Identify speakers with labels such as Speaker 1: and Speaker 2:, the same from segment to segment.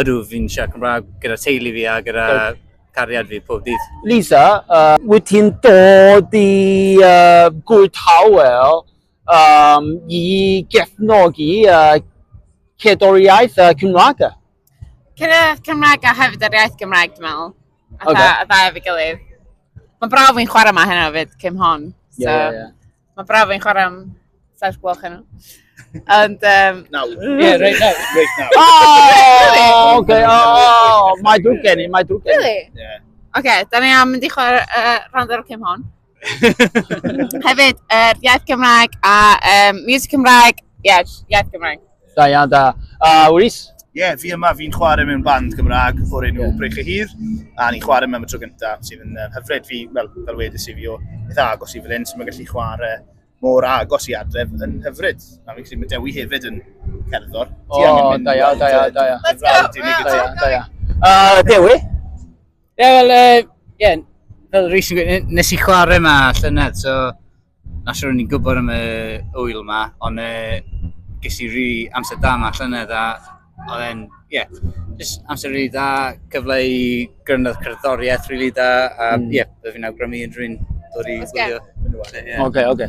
Speaker 1: Ydw, fi'n siarad Cymraeg gyda teulu fi a gyda Good. cariad fi pob dydd. Lisa, uh, wyt ti'n dod i uh, gwyd hawel um, i gefnogi uh, cedoriaeth uh, Cymraeg? Cedoriaeth Cymraeg a hefyd yr iaith Gymraeg, dwi'n meddwl. A okay. dda, dda efo'i gilydd. Mae'n braf fi'n chwarae yma heno fyd, Cym Hon. So. Yeah, yeah, yeah. Mae braf yn chwarae am saith gloch heno. Ond, um... Nawr. Ie, reit nawr. Reit nawr. O! Oh, oce, o! Mae drwg gen i, mae drwg gen i. Really? Ie. Oce, da ni am mynd i chwarae uh, rand ar y cym hon. Hefyd, uh, iaith Cymraeg a um, music Cymraeg. Ie, yeah, iaith Cymraeg. Da iawn, da. A Rhys? Ie, yeah, fi yma, fi'n chwarae mewn band Gymraeg o'r enw yeah. Brech y Hir, a ni'n chwarae mewn y tro gyntaf, sydd yn uh, hyfryd fi, fel, fel wedys i fi o beth agos i fel hyn, sy'n mynd gallu chwarae mor agos i adref yn hyfryd. A fi'n credu mae Dewi hefyd yn cerddor. O, da ia, da ia, da ia. Let's go, da ia, da ia. Dewi? Ie, yeah, wel, uh, yeah, fel Rhys yn gwybod, nes i chwarae yma llynedd, so na siwr o'n i'n gwybod am y wyl yma, ond uh, ges i rhi amser da yma llynedd, a oedd e'n, ie, yeah, just amser rhi da, cyfle i grynodd cerddoriaeth rhi really da, a mm. ie, mm. yeah, byddwn i'n awgrymu unrhyw un dod i gwylio. Oce, oce.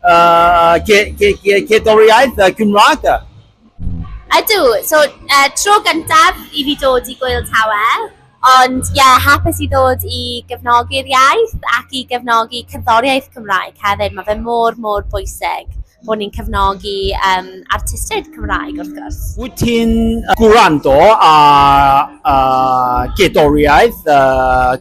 Speaker 1: uh, cerddoriaeth uh, Gymraeg. Ydw, so uh, tro gyntaf i fi dod i Gwyl Tawe, ond ie, yeah, hapus i ddod i gefnogi'r iaith ac i gefnogi cerddoriaeth Cymraeg hefyd. Mae fe mor, mor bwysig bod ni'n cefnogi um, artistiaid Cymraeg wrth gwrs. Wyt ti'n gwrando ar gerddoriaeth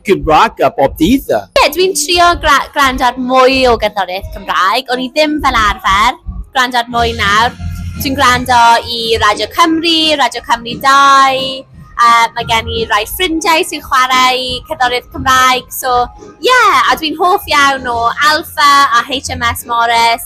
Speaker 1: Gymraeg bob dydd? Ie, dwi'n trio gwrando ar mwy o gerddoriaeth Gymraeg. O'n i ddim fel arfer gwrando ar mwy nawr. Dwi'n gwrando i Radio Cymru, Radio Cymru 2, uh, mae gen i rai ffrindiau sy'n chwarae cerddoriaeth Cymraeg, so ie, yeah, a dwi'n hoff iawn o Alpha a HMS Morris,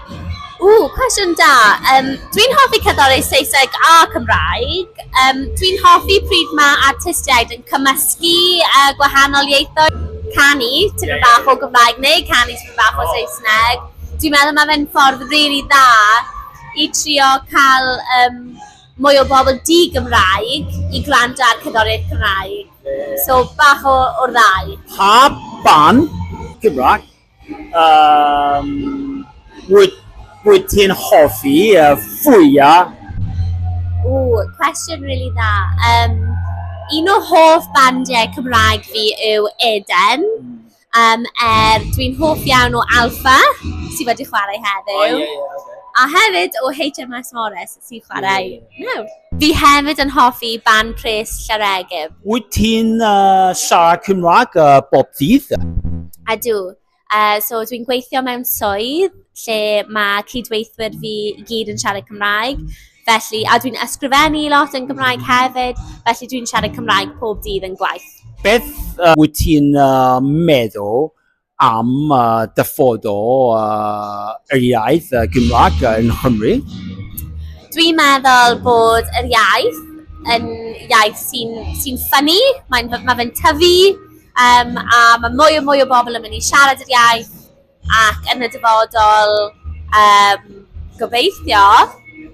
Speaker 1: Ww, cwestiwn da! Yym, dwi'n hoffi cerddori Saesneg a Cymraeg. Yym, dwi'n hoffi pryd mae artistiaid yn cymysgu, yy, gwahanol ieithoedd. Canu tipyn bach o Gymraeg neu canu tipyn bach o Saesneg. Dwi'n meddwl mae fe'n ffordd rili dda i trio cael, yym, mwy o bobl di-Gymraeg i gwrando ar cerddoriaeth Cymraeg. So, bach o o'r ddau. Pa ban Gymraeg? Yym, wyt, wyt ti'n hoffi y fwya? Ww, cwestiwn rili really dda. Um, un o hoff bandiau Cymraeg fi yw Eden. Um, er, dwi'n hoff iawn o Alpha, sydd wedi chwarae heddiw. Oh, yeah, yeah, okay. A hefyd o HMS Morris. sy'n chwarae nawr. Fi hefyd yn hoffi ban pres Llareegyb. Wyt ti'n uh, siarad Cymraeg uh, bob dydd? A dw. Uh, so dwi'n gweithio mewn swydd lle mae cydweithwyr fi i gyd yn siarad Cymraeg. Felly, a dwi'n ysgrifennu lot yn Gymraeg hefyd, felly dwi'n siarad Cymraeg pob dydd yn gwaith. Beth uh, wyt ti'n uh, meddwl am dyfodol yr iaith Gymraeg yn Nghymru? Dwi'n meddwl bod yr iaith yn iaith sy'n sy'n ffynnu, mae'n mae fe'n tyfu um, a mae mwy o mwy o bobl yn mynd i siarad yr iaith ac yn y dyfodol um, gobeithio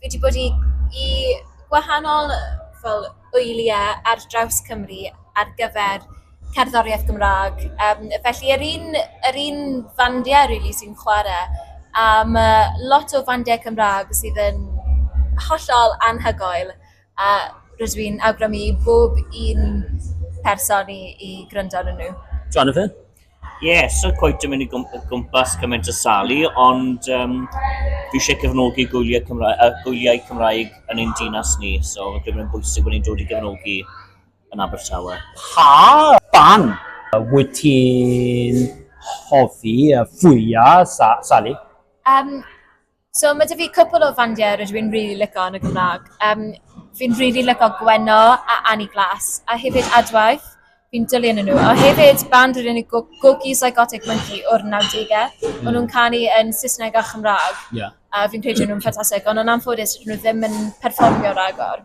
Speaker 1: fi 'di bod i i gwahanol fel wyliau ar draws Cymru ar gyfer cerddoriaeth Gymraeg. Yym, felly yr un yr un fandiau rili sy'n chwarae, a ma' lot o fandiau Cymraeg sydd yn hollol anhygoel. A rydw i'n awgrymu i bob un person i, i gryndo yn nhw. Jonathan? Ie, yeah, so coet yn mynd i gwmpas cymaint o salu, ond um, fi eisiau cefnogi gwyliau Cymraeg, uh, gwyliau Cymraeg yn ein dinas ni, so fe gwybod yn bwysig bod ni'n dod i gefnogi yn Abertawe. Pa ban wyt ti'n hoffi fwyaf, sa Sally? Um, So mae 'da fi cwpl o fandiau rydw i'n rili licio yn y Gymraeg. Yym, fi'n rili licio Gwenno a Annie Glass a hefyd Adwaith, fi'n dwli arnyn nhw. A hefyd band o'r enw Go- Gogi Psychotic Monkey o'r nawdegau. O'n nhw'n canu yn Saesneg a Chymraeg. Ie. A fi'n credu o'n nhw'n ffantastig, ond yn anffodus, 'dyn nhw ddim yn perfformio ragor.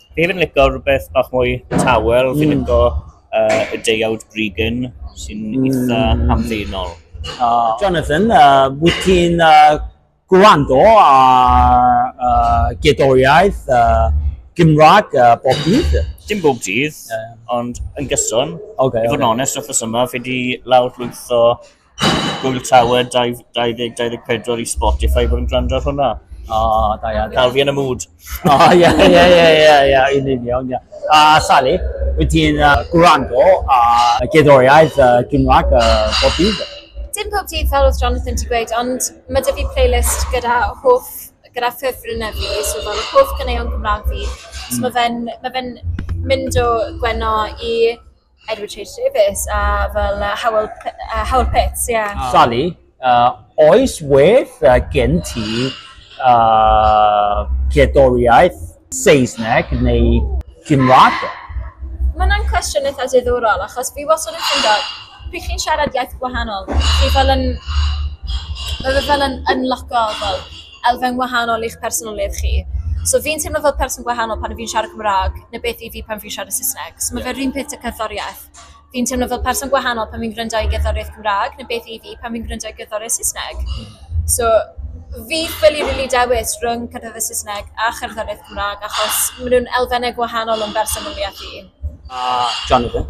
Speaker 1: Fi hefyd yn licio rhywbeth bach mwy tawel, fi'n mm. licio uh, y deuawd Bregan sy'n mm. eitha hamddenol. Uh, Jonathan, uh, wyt ti'n uh, gwrando a uh, gedoriaeth uh, Gymraeg uh, bob dydd? Dim bob dydd, yeah. ond yn gyson. Okay, I fod yn okay. onest, wrth y yma, fi wedi lawr llwytho Google Tower 2024 i Spotify bod yn gwrando ar hwnna. O, da iawn. Cael fi yn y mood. O, ie, ie, ie, ie, ie, yn union, ie. A Sally, wyt ti'n uh, gwrando a gerddoriaeth uh, Gymraeg uh, bob dydd? Dim pob dydd fel oedd Jonathan ti gweud, ond mae dy fi playlist gyda hoff, gyda ffefrynnau fi, so fel hoff gyneuon Gymraeg fi. So mae fe'n ma fe mynd o Gwenno i Edward Chase Davies, a fel uh, Howell, uh, Howell Pitts, ie. Yeah. Ah. Sally, uh, oes wedd uh, gen ti uh, cerddoriaeth Saesneg neu Gymraeg? Mae yna'n cwestiwn eitha diddorol, achos fi wastad yn ffindo, pryd chi'n siarad iaith gwahanol, fi fel yn, mae fe fel yn unlockable. elfen wahanol i'ch personoliaeth chi. So fi'n teimlo fel person gwahanol pan fi'n siarad Cymraeg, neu beth i fi pan fi'n siarad Saesneg. So mae fe'r un peth y cerddoriaeth. Fi'n teimlo fel person gwahanol pan fi'n gwrando i gerddoriaeth Cymraeg, neu beth i fi pan fi'n gwrando i gerddoriaeth Saesneg. So fi'n ffili rili dewis rhwng cerddoriaeth Saesneg a cherddoriaeth Cymraeg achos maen nhw'n elfennau gwahanol o'n bersonoliaeth i. A Jonathan?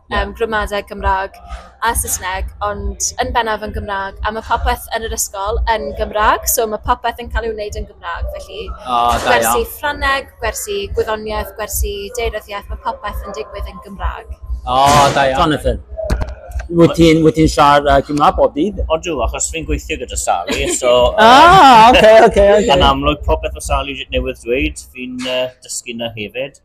Speaker 1: Yym, gramadeg Gymraeg a Saesneg, ond yn bennaf yn Gymraeg. A mae popeth yn yr ysgol yn Gymraeg, so mae popeth yn cael ei wneud yn Gymraeg. Felly, O, da gwersi iawn. Ffrangeg, gwersi gwyddoniaeth, gwersi deiryddiaeth, mae popeth yn digwydd yn Gymraeg. O, da iawn. Jonathan, wyt ti'n wyt ti'n siarad uh, Cymraeg bob dydd? O dw, achos fi'n gweithio gyda Sally, so... Ah, oce, oce, Yn oce. amlwg, popeth o Sally newydd dweud, fi'n uh, dysgu na hefyd.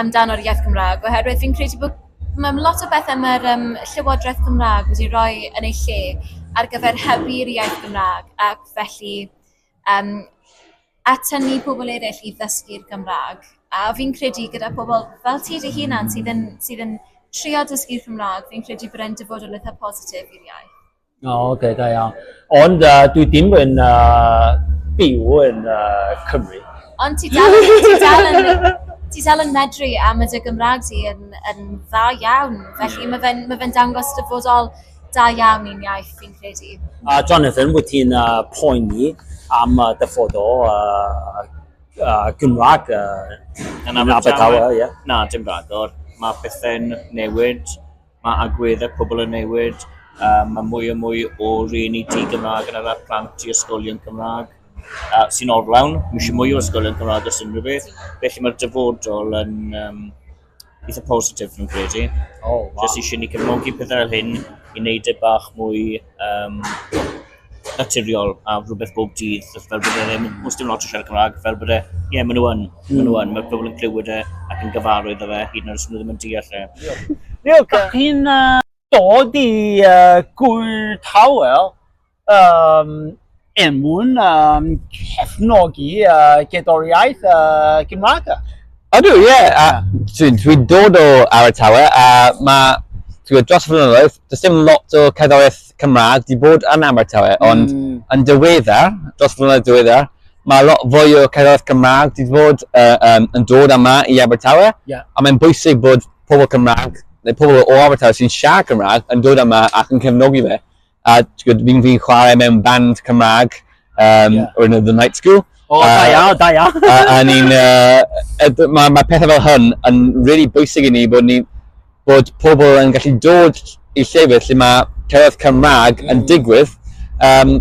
Speaker 1: amdano'r iaith Gymraeg, oherwydd fi'n credu bod mae lot o bethau mae'r um, Llywodraeth Gymraeg wedi rhoi yn ei lle ar gyfer hybu'r iaith Gymraeg ac felly um, atynnu pobl eraill i ddysgu'r Gymraeg. A fi'n credu gyda pobl fel ti dy hunan sydd yn, sydd yn trio dysgu'r Cymraeg, fi'n credu bod e'n dyfodol eitha positif i'r iaith. O, oh, okay, da iawn. Ond uh, dwi dim yn uh, byw yn uh, Cymru. Ond ti dal yn... Ti dal yn... Ti dal yn medru a mae dy Gymraeg ti yn, yn dda iawn. Felly yeah. mae fe'n ma fe dangos dyfodol da iawn i'n iaith, fi'n credu. Uh, Jonathan, wyt ti'n uh, poeni am uh, dyfodol uh, uh, Gymraeg uh, yn Abertawe? Yeah. Na, dim rhagor. Mae pethau'n newid Mae agweddau pobl yn newid, mae mwy a mwy o rhieni di-Gymraeg yn arwain plant i ysgolion Cymraeg, sy'n orlawn, mae eisiau mwy o ysgolion Cymraeg os unrhyw beth, felly mae'r dyfodol yn eitha' positif fi'n credu. O, waw. Jyst eisiau ni cefnogi pethau fel hyn i wneud e bach mwy naturiol a rhywbeth bob dydd, fel bod e ddim, os dim lot o siarad Cymraeg, fel bod e, ie, yeah, maen nhw yn, mm. maen nhw yn, mae pobl yn clywed e ac yn gyfarwydd o fe, hyd yn oed os nhw ddim yn deall e. Diolch. Da chi'n uh, dod i uh, gwyl tawel um, emwn um, cefnogi uh, gedoriaeth uh, Gymraeg? Ydw, ie. Yeah. Dwi'n dwi dod o Abertawe a mae dros y flynyddoedd does dim lot o cerddoriaeth Cymraeg, di bod yn Abertawe, ond mm. yn diweddar, dros flynedd diweddar, mae lot fwy o cerddoriaeth Cymraeg di bod uh, um, yn dod yma i Abertawe, yeah. a mae'n bwysig bod pobl Cymraeg, neu pobl o Abertawe sy'n siarad Cymraeg, yn dod yma ac yn cefnogi fe. A fi'n fi chwarae mewn band Cymraeg, um, yeah. or the night school. O, oh, da iawn, da iawn. A ni'n, mae ma pethau fel hyn yn really bwysig i ni bod, ni, bod pobl yn gallu dod i llefydd lle mae cerdded Cymraeg yn mm. digwydd. Um,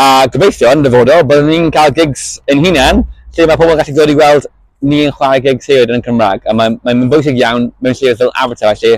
Speaker 1: a gobeithio yn dyfodol, byddwn ni'n cael gigs yn hunain lle mae pobl yn gallu dod i weld ni yn chwarae gigs hefyd yn Cymraeg. A mae'n mae, mae bwysig iawn mewn llefydd fel Avatar lle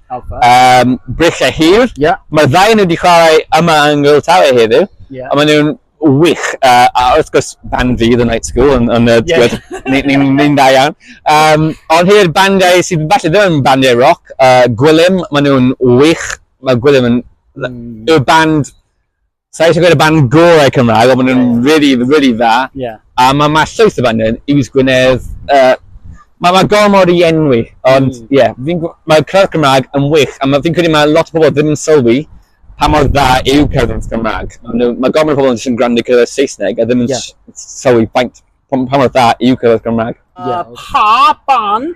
Speaker 1: Alpha. Um, Brill a Hir. Yeah. Mae'r ddau nhw wedi chwarae yma yng Nghyl Tawe heddiw. Yeah. A maen nhw'n wych. Uh, a wrth gwrs, band fi, The Night School, yn, yn uh, yeah. ni'n ni, da iawn. Um, ond hir bandiau sydd falle ddim yn bandiau rock, uh, Gwilym, maen nhw'n wych. Mae Gwilym yn mm. y band Sa'i eisiau gweud y band gorau Cymraeg, ond maen nhw'n yeah. really, really dda. Yeah. A mae ma llwyth y band yn Iws Gwynedd. Uh, mae ma gormod i enwi, ond mm. ie, mm. yeah, mae crowd Cymraeg yn wych, a fi'n credu mae lot o bobl ddim yn sylwi pa mor dda yw cerdded Cymraeg. Mae ma gormod o bobl yn sy'n gwrando cerdded Saesneg a ddim yn yeah. sylwi pa, pa mor dda yw cerdded Cymraeg. Yeah. Uh, pa ban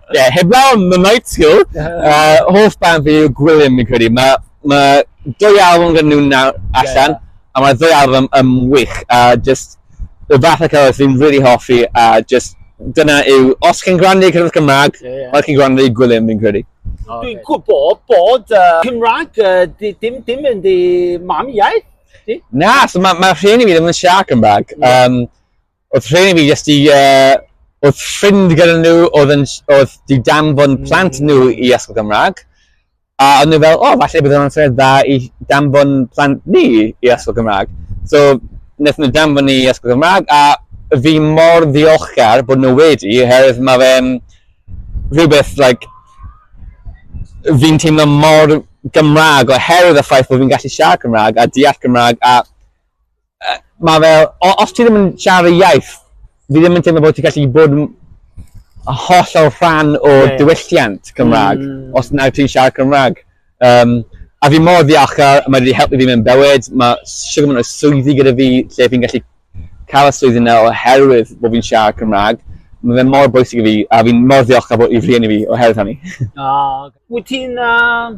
Speaker 1: Ie, yeah, heblaw am y night school, uh, hoff band fi yw Gwilym, fi'n credu. Mae ma dwy album gan nhw'n nawr allan, yeah, yeah. a mae dwy album yn wych, a uh, just y fath o cyfres fi'n really hoffi, a uh, just dyna yw, os chi'n gwrando i cyfres Cymraeg, yeah, yeah. mae chi'n gwrando i Gwilym fi'n credu. Okay. Dwi'n gwybod bod uh, Cymraeg, uh, dim, dim yn di mam iaith, di? Na, so mae ma rhieni fi ddim yn siarad Cymraeg. Yeah. Um, Oedd rheni fi jyst i, uh, oedd ffrind gyda nhw oedd, yn, oedd di danfon mm. plant nhw i ysgol Gymraeg. A oedd nhw fel, o, oh, falle bydd o'n syniad dda i danfon plant ni i ysgol Gymraeg. So, wnaethon nhw danfon ni i ysgol Gymraeg, a fi mor ddiolchgar bod nhw wedi, herwydd mae fe'n rhywbeth, like, fi'n teimlo mor Gymraeg oherwydd y ffaith bod fi'n gallu siarad Cymraeg a deall Cymraeg a mae fel, os ti ddim yn siarad y iaith, fi ddim yn teimlo bod ti'n gallu bod yn hollol rhan o yeah. diwylliant Cymraeg, mm. os na ti'n siarad Cymraeg. Um, a fi mor ddiolchgar, mae wedi helpu fi mewn bywyd, mae siwr mynd o swyddi gyda fi lle fi'n gallu cael y swyddi yna oherwydd bod fi'n siarad Cymraeg. Mae fe mor bwysig i fi, a fi'n mor ddiolchgar bod i fri i fi oherwydd hynny. Ah, wyt ti'n uh,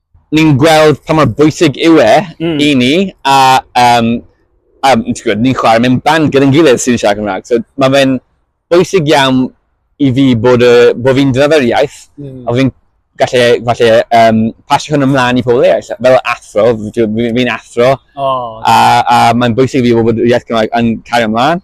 Speaker 1: ni'n gweld pa mor bwysig yw e mm. i ni, a, um, a gwybod, ni'n chwarae mewn band gyda'n gilydd sy'n siarad Cymraeg. So, mae fe'n bwysig iawn i fi bod, uh, bod fi'n dyfod iaith, mm. a fi'n gallu, falle, um, pasio hwn ymlaen i pobl eraill. Fel athro, fi'n athro, oh, a, a mae'n bwysig i fi bod iaith Cymraeg yn cario ymlaen.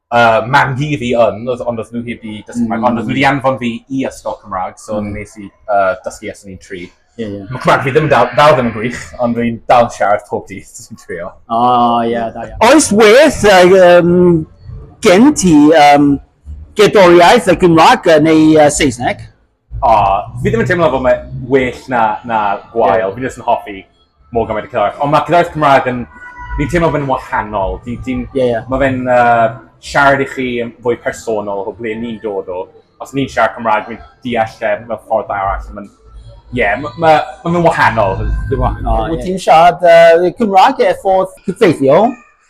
Speaker 1: uh, mam hi fi yn, oedd, ond oedd nhw heb i dysgu Cymraeg, mm. ond oedd nhw wedi anfon fi i ysgol Cymraeg, so mm. nes i uh, dysgu ys o'n i'n tri. Yeah, yeah. Mae Cymraeg fi ddim dal, dal ddim yn gwych, ond rwy'n dal yn siarad pob dydd sy'n trio. O, oh, ie, yeah, da iawn. Oes werth um, gen ti um, gedoriaeth y Gymraeg neu uh, Saesneg? O, fi ddim yn teimlo bod mae well na, na gwael. Yeah. Fi ddim yn hoffi mor gymaint o cerddoriaeth. Ond mae cerddoriaeth Cymraeg yn... Fi'n teimlo fe'n wahanol. Di, di, yeah, yeah. Mae fe'n uh, siarad i chi yn fwy personol o ble ni'n dod o. Os ni'n siarad Cymraeg, fi'n deall lle mewn ffordd arall. Mae'n... Ie, yeah, mae'n ma, ma, ma wahanol. Wyt ti'n siarad uh, Cymraeg e ffordd cyffeithiol?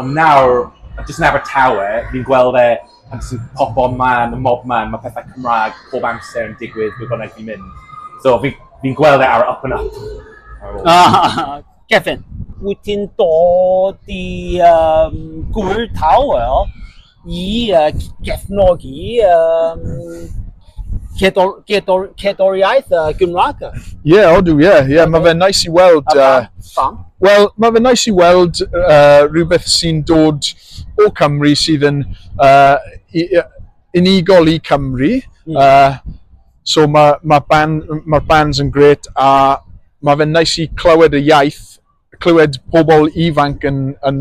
Speaker 1: Ond nawr, jyst yn Abertawe, fi'n gweld e pan ti'n popo man, y mob man, mae pethau Cymraeg pob amser yn digwydd ble bynnag fi'n mynd. So, fi'n fi gweld e ar up and up. Ah, Kevin, wyt ti'n dod i um, gwyl tawel i gefnogi um, cedol, cedol, cedoliaeth uh, Gymraeg? Ie, yeah, odw, ie. Yeah, yeah, okay. Mae fe'n nais i weld... A pam? Uh, pam? Wel, mae fe'n nais i weld uh, rhywbeth sy'n dod o Cymru sydd yn uh, unigol i Cymru. Mm. Uh, so mae ma, band, ma bands yn gret a mae fe'n nais i clywed y iaith clywed pobl ifanc yn yn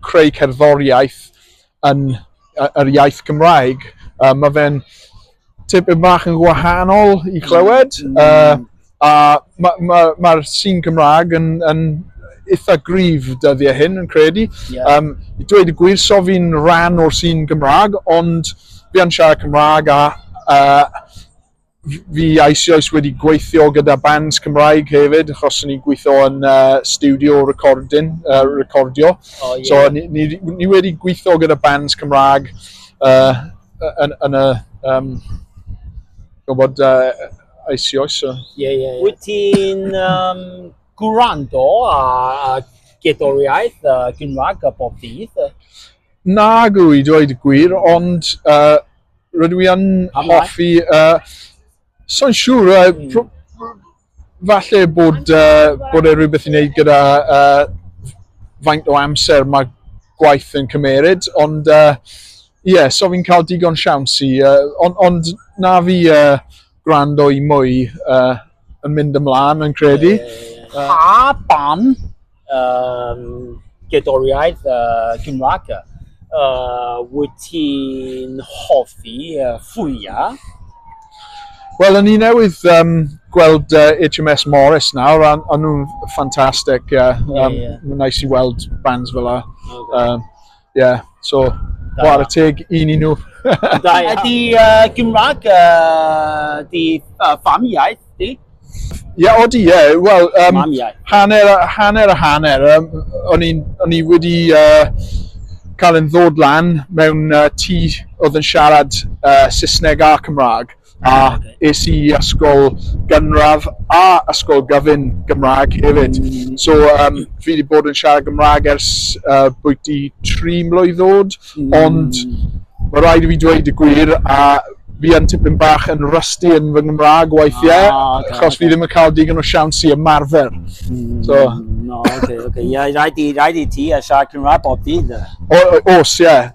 Speaker 1: creu cerddoriaeth yn yy yr iaith Gymraeg yy ma' fe'n tipyn bach yn wahanol i clywed yy a ma' ma' ma'r sîn Gymraeg yn yn itha gryf dyddiau hyn yn credu. Ie. Yym i dweud y gwir so fi'n rhan o'r sîn Gymraeg ond fi yn siarad Cymraeg a yy fi eisioes wedi gweithio gyda bands Cymraeg hefyd, achos o'n i'n gweithio yn uh, studio recording, uh, recordio. Oh, yeah. So ni, ni, ni wedi gweithio gyda bands Cymraeg uh, yn, yn y... Um, gwybod uh, eisioes. So. Yeah, yeah, yeah. Wyt ti'n um, gwrando a gedoriaeth uh, Gymraeg a bob dydd? Na gwy, dweud y gwir, ond uh, Rydw i yn hoffi, uh, so'n siŵr, uh, falle bod, uh, bod e rhywbeth i wneud gyda uh, faint o amser mae gwaith yn cymeryd, ond ie, uh, yeah, so fi'n cael digon siawns i, uh, ond, ond na fi uh, gwrando i mwy uh, yn mynd ymlaen yn credu. Pa ban um, gerddoriaeth uh, Gymraeg. Uh, wyt ti'n hoffi uh, fwyaf? Wel, o'n i newydd um, gweld uh, HMS Morris nawr, a o'n nhw'n ffantastig. Uh, um, yeah, yeah. Mae'n nice i weld bands fel la. Okay. Um, Ie, yeah, so, war y teg i ni nhw. da iawn. Ydy uh, Gymraeg, uh, di uh, fam iaith, di? Ie, yeah, odi, ie. Yeah. Wel, um, hanner, hanner a hanner. Um, o'n i wedi... Uh, cael yn ddod lan mewn uh, tŷ oedd yn siarad uh, Saesneg a Cymraeg. a es i ysgol gynradd a ysgol gyfun Gymraeg hefyd. Mm. So um, fi wedi bod yn siarad Gymraeg ers uh, bwyty tri mlwydd oed, mm. ond mae rhaid i fi dweud y gwir a fi yn tipyn bach yn rusty yn fy Nghymraeg weithiau, ah, okay, achos okay. fi ddim yn cael digon o siawns i ymarfer. Mm, so. No, okay, okay. Yeah, rhaid i, rhaid i ti a siarad Cymraeg bob dydd. Os, ie. Yeah.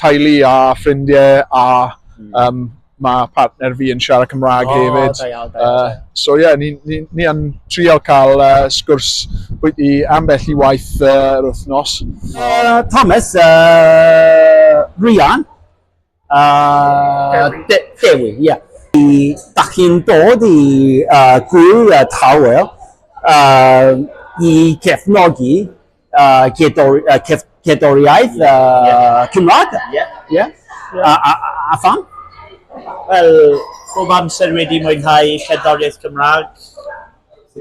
Speaker 1: teulu a ffrindiau a mm. um, mae partner fi yn siarad Cymraeg oh, hefyd. Da iawn, da iawn. Uh, so ie, yeah, ni, ni, ni yn trial cael uh, sgwrs bwyty ambell i waith uh, yr wythnos. Uh, Thomas, uh, Rhian, uh, De Dewi, ie. Yeah. Da chi'n dod i uh, gwyl y tawel uh, i cefnogi uh, cerddori, uh, cef, cerddoriaeth yeah. uh, yeah. Cymraeg. Yeah. Yeah. yeah. A, a, a pham? Wel, bob amser wedi mwynhau cerddoriaeth Cymraeg.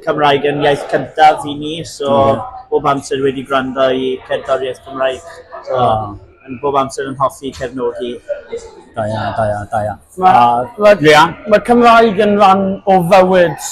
Speaker 1: Cymraeg yn iaith cyntaf i ni, so mm. bob amser wedi gwrando i cerddoriaeth Cymraeg. So, oh. yn bob amser yn hoffi cefnogi. Da ia, da ia, da ia. Mae ma, ma Cymraeg yn rhan o fywyd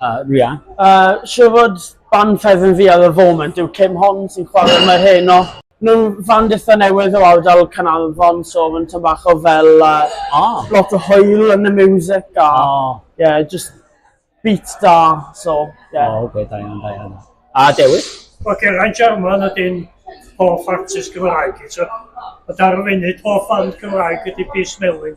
Speaker 1: Uh, Ria. Uh, siw fod ban ffefn fi ar y foment yw Kim Hon sy'n chwarae mae hyn o. Nhw'n fan dithau newydd o awdal Canarfon, so mae'n tyn bach o fel uh, oh. lot o hwyl yn y music a oh. yeah, just beat da, so yeah. Oh, okay, da iawn, da iawn. A Dewi? Wel, Geraint Jarman ydyn hoff artist Gymraeg i, so. A dar y funud, hoff band Gymraeg ydy Peace Melwyn.